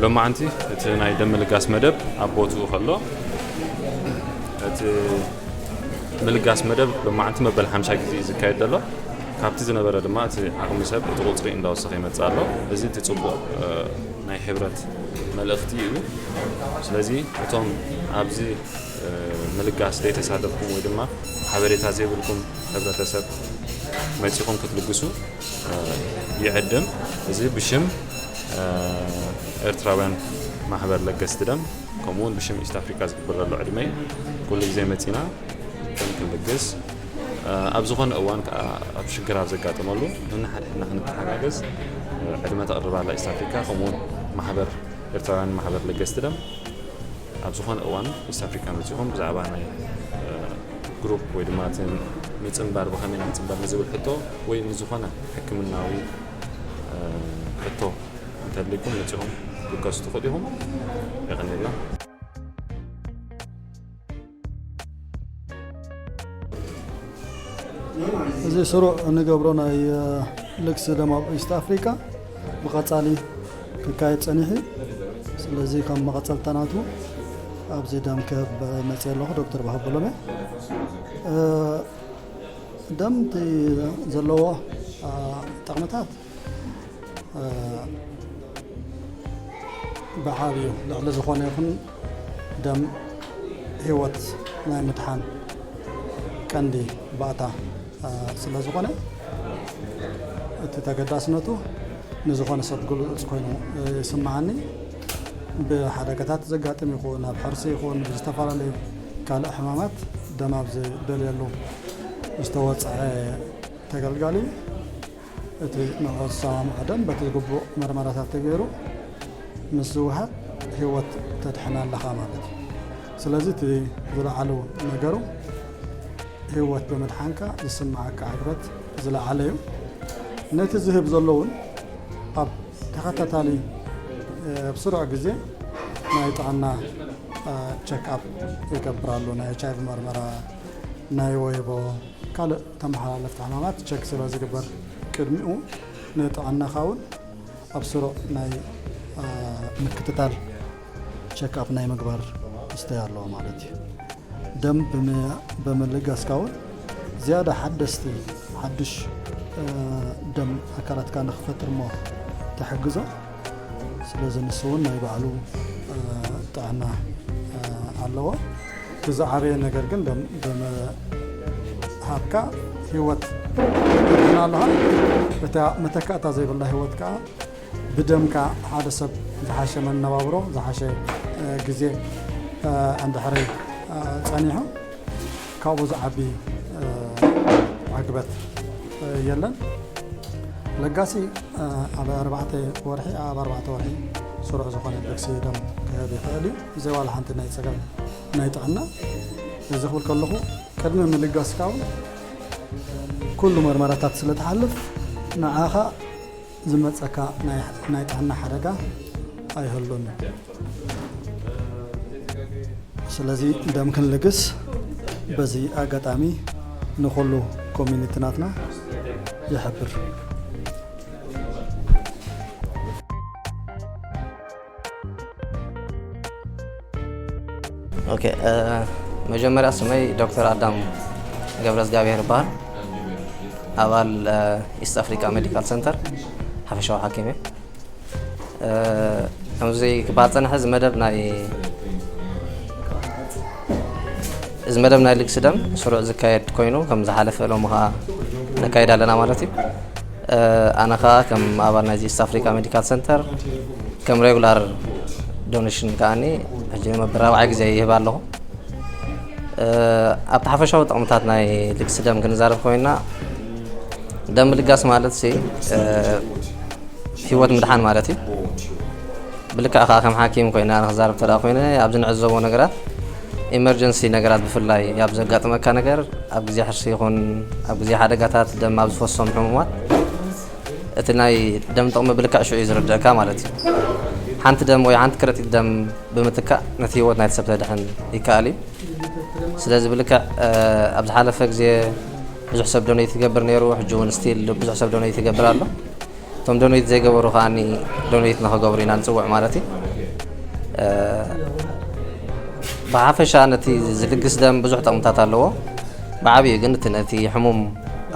ሎማዓንቲ እቲ ናይ ደም ምልጋስ መደብ ኣብ ቦትኡ ከሎ እቲ ምልጋስ መደብ ሎማዓንቲ መበል ሓምሻይ ግዜ እዩ ዝካየድ ዘሎ ካብቲ ዝነበረ ድማ እቲ ዓቕሚ ሰብ እቲ ቁፅሪ እንዳወሰኸ ይመፅእ ኣሎ እዚ እቲ ፅቡቕ ናይ ሕብረት መልእኽቲ እዩ ስለዚ እቶም ኣብዚ ምልጋስ ዘይተሳተፍኩም ወይ ድማ ሓበሬታ ዘይብልኩም ሕብረተሰብ መፂኹም ክትልግሱ ይዕድም እዚ ብሽም ኤርትራውያን ማሕበር ለገስቲ ደም ከምኡውን ብሽም ኢስት ኣፍሪካ ዝግብር ዘሎ ዕድመይ ኩሉ ግዜ መፂና ደም ክንልግስ ኣብ ዝኾነ እዋን ከኣ ኣብ ሽግር ኣብ ዘጋጥመሉ ነንሓድሕድና ክንተሓጋገዝ ዕድመ ተቕርብ ኣላ ኢስት ኣፍሪካ ከምኡ ውን ማሕበር ኤርትራውያን ማሕበር ለገስቲ ደም ኣብ ዝኾነ እዋን ኢስት ኣፍሪካ መጺኹም ብዛዕባ ናይ ግሩፕ ወይ ድማ ምጽንባር ብኸመይ ንጽንበር ንዝብል ሕቶ ወይ ንዝኾነ ሕክምናዊ ሕቶ እንተልይኩም መጺኹም ክትከሱ ትኽእሉ ኢኹም የቐኒልና እዚ ስሩዕ እንገብሮ ናይ ልግሲ ደም ኣብ ኢስት ኣፍሪካ ብቐፃሊ ክካየድ ፀኒሑ ስለዚ ከም መቐፀልታ ናቱ ኣብዚ ደም ክህብ መፅ ኣለኹ ዶክተር ባሃበሎም ደም ዘለዎ ጠቕምታት በዓል እዩ ልዕሊ ዝኾነ ይኹን ደም ህይወት ናይ ምድሓን ቀንዲ ባእታ ስለ ዝኾነ እቲ ተገዳስነቱ ንዝኾነ ሰብ ግሉፅ ኮይኑ ይስምዓኒ ብሓደጋታት ዘጋጥም ይኹን ኣብ ሕርሲ ይኹን ብዝተፈላለዩ ካልእ ሕማማት ደም ኣብ ዝደልየሉ ዝተወፅዐ ተገልጋሊ እቲ ንዕኡ ዝሰማምዖ ደም በቲ ዝግቡእ መርመራታት ተገይሩ ምስ ዝወሃብ ህይወት ተድሕን ኣለኻ ማለት እዩ። ስለዚ እቲ ዝለዓሉ ነገሩ ህይወት ብምድሓንካ ዝስምዓካ ዕግበት ዝለዓለ እዩ። ነቲ ዝህብ ዘሎ እውን ኣብ ተኸታታሊ ኣብ ስሩዕ ግዜ ናይ ጥዕና ቸክኣፕ ይገብራሉ ናይ ኤች ኣይቪ መርመራ ናይ ወይቦ ካልእ ተመሓላለፍቲ ሕማማት ቸክ ስለ ዝግበር ቅድሚኡ ንጥዕናኻ እውን ኣብ ስሩዕ ናይ ምክትታል ቸክ ኣፕ ናይ ምግባር እስተይ ኣለዎ ማለት እዩ። ደም ብምልጋስካ እውን ዝያዳ ሓደስቲ ሓዱሽ ደም ኣካላትካ ንክፈጥር እሞ ትሕግዞ። ስለዚ ንሱ እውን ናይ ባዕሉ ጥዕና ኣለዎ እቲ ዝዓበየ ነገር ግን ብምሃብካ ህይወት ትድሕና ኣለኻ እታ መተካእታ ዘይብላ ህይወት ከዓ ብደምካ ሓደ ሰብ ዝሓሸ መነባብሮ ዝሓሸ ግዜ እንድሕሪ ፀኒሑ ካብኡ ዝዓቢ ዕግበት የለን። ለጋሲ ኣብ ኣርባዕተ ወርሒ ኣብ ኣርባዕተ ወርሒ ስሩዕ ዝኾነ ልግሲ ደም ክህብ ይኽእል እዩ ብዘይ ዋላ ሓንቲ ናይ ፀገም ናይ ጥዕና እዚ ክብል ከለኹ ቅድሚ ምልጋስካ እውን ኩሉ መርመራታት ስለትሓልፍ ንዓኻ ዝመጸካ ናይ ጥዕና ሓደጋ ኣይህሉን። ስለዚ ደም ክንልግስ በዚ ኣጋጣሚ ንኹሉ ኮሚኒቲ ናትና ይሕብር። ኦኬ እ፣ መጀመሪያ ስመይ ዶክተር ኣዳም ገብረ እግዚኣብሔር ይበሃል ኣባል እ፣ ኢስት ኣፍሪካ ሜዲካል ሰንተር ሓፈሻዊ ሓኪም እየ እ፣ ከምዚ ክበሃል ፀንሐ እዚ መደብ ናይ እዚ መደብ ናይ ልግሲ ደም ስሩዕ ዝካየድ ኮይኑ ከም ዝሓለፈ ሎሚ ከዓ ነካይድ ኣለና ማለት እዩ ኣነ ከዓ ከም ኣባል ናይዚ ኢስት ኣፍሪካ ሜዲካል ሰንተር ከም ሬጉላር ዶኔሽን ከዓኒ ሕጂ ንመበል ራብዓይ ግዜ ይህብ ኣለኹ ኣብቲ ሓፈሻዊ ጥቕምታት ናይ ልግሲ ደም ክንዛረብ ኮይና ደም ምልጋስ ማለት ህይወት ምድሓን ማለት እዩ ብልክዕ ከኣ ከም ሓኪም ኮይነ ኣነ ክዛረብ እንተ ኮይነ ኣብዚ ንዕዘቦ ነገራት ኢመርጀንሲ ነገራት ብፍላይ ኣብ ዘጋጥመካ ነገር ኣብ ግዜ ሕርሲ ይኹን ኣብ ግዜ ሓደጋታት ደም ኣብ ዝፈሶም ሕሙማት እቲ ናይ ደም ጥቕሚ ብልክዕ ሽዑ እዩ ዝርድእካ ማለት እዩ። ሓንቲ ደም ወይ ሓንቲ ከረጢት ደም ብምትካእ ነቲ ህይወት ናይቲ ሰብ ተድሕን ይከኣል እዩ። ስለዚ ብልክዕ ኣብ ዝሓለፈ ግዜ ብዙሕ ሰብ ዶነይት ይገብር ነይሩ ሕጂ እውን ስቲል ብዙሕ ሰብ ዶነይት ይገብር ኣሎ። እቶም ዶኔት ዘይገበሩ ከዓኒ ዶኔት ንክገብሩ ኢና ንፅውዕ ማለት እዩ። ብሓፈሻ ነቲ ዝልግስ ደም ብዙሕ ጠቕምታት ኣለዎ። ብዓብዩ ግን እቲ ነቲ ሕሙም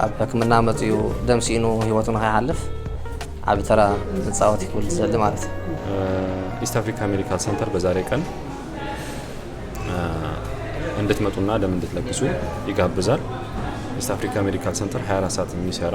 ኣብ ሕክምና መፅኡ ደም ሲኢኑ ህይወቱ ንኸይሓልፍ ዓብ ተራ ንፃወት ክብል ዝደሊ ማለት እዩ። ኢስት አፍሪካ ሜዲካል ሰንተር በዛሬ ቀን እንድትመጡና ደም እንድትለግሱ ይጋብዛል። ኢስት አፍሪካ ሜዲካል ሰንተር 24 ሰዓት የሚሰራ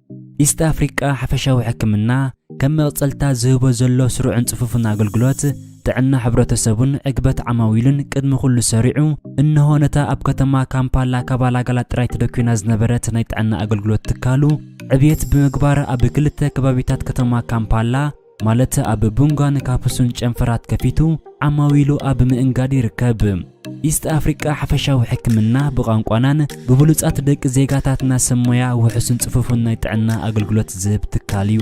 ኢስት ኣፍሪቃ ሓፈሻዊ ሕክምና ከም መቕጸልታ ዝህቦ ዘሎ ስሩዕን ጽፉፍን ኣገልግሎት ጥዕና ሕብረተሰቡን ዕግበት ዓማዊሉን ቅድሚ ኩሉ ሰሪዑ እንሆ ነታ ኣብ ከተማ ካምፓላ ካባላጋላ ጥራይ ተደኪና ዝነበረት ናይ ጥዕና ኣገልግሎት ትካሉ ዕብየት ብምግባር ኣብ ክልተ ከባቢታት ከተማ ካምፓላ ማለት ኣብ ቡንጋን ካፕሱን ጨንፈራት ከፊቱ ዓማዊሉ ኣብ ምእንጋድ ይርከብ። ኢስት ኣፍሪቃ ሓፈሻዊ ሕክምና ብቛንቋናን ብብሉጻት ደቂ ዜጋታትና ሰብ ሞያ ውሑስን ጽፉፍን ናይ ጥዕና ኣገልግሎት ዝህብ ትካል እዩ።